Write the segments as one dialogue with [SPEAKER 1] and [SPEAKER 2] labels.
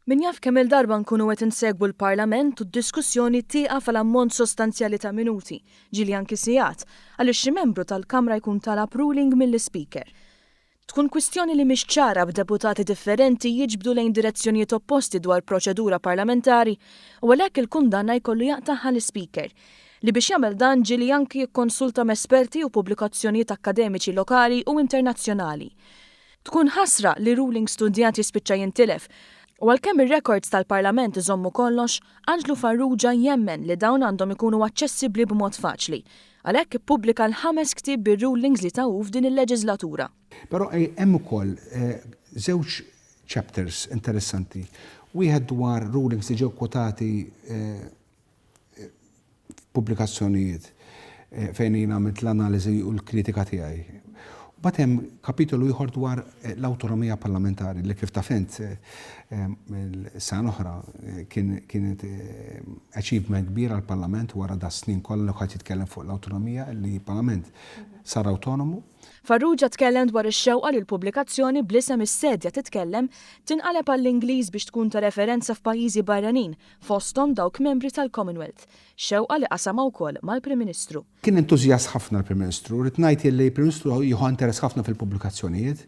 [SPEAKER 1] Min jaf kemm-il darba nkunu qed insegwu l-Parlament u d-diskussjoni tieqaf għal ammont sostanzjali ta' minuti, ġieli anki sigħat, għaliex xi membru tal-Kamra jkun talab ruling mill-Ispeaker. Tkun kwistjoni li mhix ċara b'deputati differenti jiġbdu lejn direzzjonijiet opposti dwar proċedura parlamentari u għalhekk il-kundanna jkollu jaqtagħha l-Ispeaker. li biex jagħmel dan ġieli anki jikkonsulta m'esperti u pubblikazzjonijiet akkademiċi lokali u internazzjonali. Tkun ħasra li ruling studjat jispiċċa jintilef u għalkemm ir-rekords tal-Parlament iżommu kollox, Anġlu Farrugia jemmen li dawn għandhom ikunu aċċessibbli b'mod faċli. Għalhekk ippubblika l-ħames ktieb bir-rulings li ta hu f'din il-leġiżlatura. Però hemm
[SPEAKER 2] ukoll żewġ chapters interessanti, wieħed dwar rulings li ġew kwotati f'pubblikazzjonijiet fejn jien għamilt l-analiżi u l-kritika tiegħi. Mbagħad hemm kapitolu ieħor dwar l-awtonomija parlamentari li kif taf int sena oħra kienet achievement kbir għall-Parlament wara da snin kollha li ħadd jitkellem fuq l-awtonomija li l-Parlament sar awtonomu. Farrugia tkellem
[SPEAKER 1] dwar ix-xewqa li l-pubblikazzjoni bl-isem Is-Sedja Titkellem tinqaleb għall-Ingliż biex tkun ta' referenza f'pajjiżi barranin fosthom dawk membri tal-Commonwealth, xewqa li qasamha wkoll mal-Prim Ministru. Kien entużjast ħafna
[SPEAKER 2] l-Prim Ministru. Rrid ngħid illi l-Prim Ministru jieħu interess ħafna fil-pubblikazzjonijiet,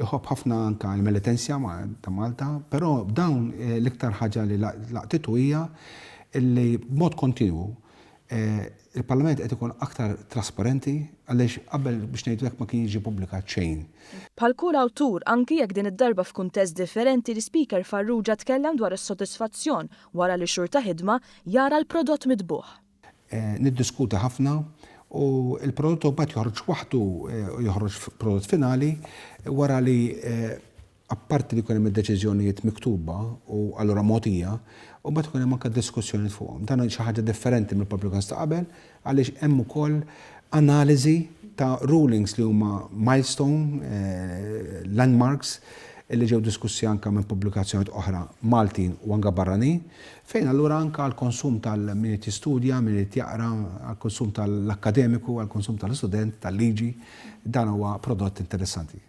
[SPEAKER 2] iħobb ħafna anke l-Melitensia ta' Malta, però dawn l-iktar ħaġa li laqtitu hija illi b'mod kontinwu Il-Parlament qed ikun aktar trasparenti għaliex qabel biex ngħidu hekk ma kien jiġi pubblikat xejn. Bħal kull
[SPEAKER 1] awtur, anki jekk din id-darba f'kuntest differenti l-Ispeaker Farrugia tkellem dwar is-sodisfazzjon wara li xhur ta' ħidma jara l-prodott mitbugħ. Niddiskuti
[SPEAKER 2] ħafna u l-prodott imbagħad joħroġ waħdu, joħroġ prodott finali wara li apparti li jkun hemm id-deċiżjonijiet miktuba u allura mogħtija, u mbagħad ikun hemm anke diskussjonijiet fuqhom. Dan hi xi ħaġa differenti mill-publicans ta' qabel għaliex hemm ukoll analiżi ta' rulings li huma milestone, landmarks, li ġew diskussi anke minn pubblikazzjonijiet oħra Maltin u anke barranin, fejn allura anke għall-konsum tal-min irid jistudja, min irid jaqra, għall-konsum tal-akkademiku, għall-konsum tal-istudent tal-liġi, dan huwa prodott interessanti.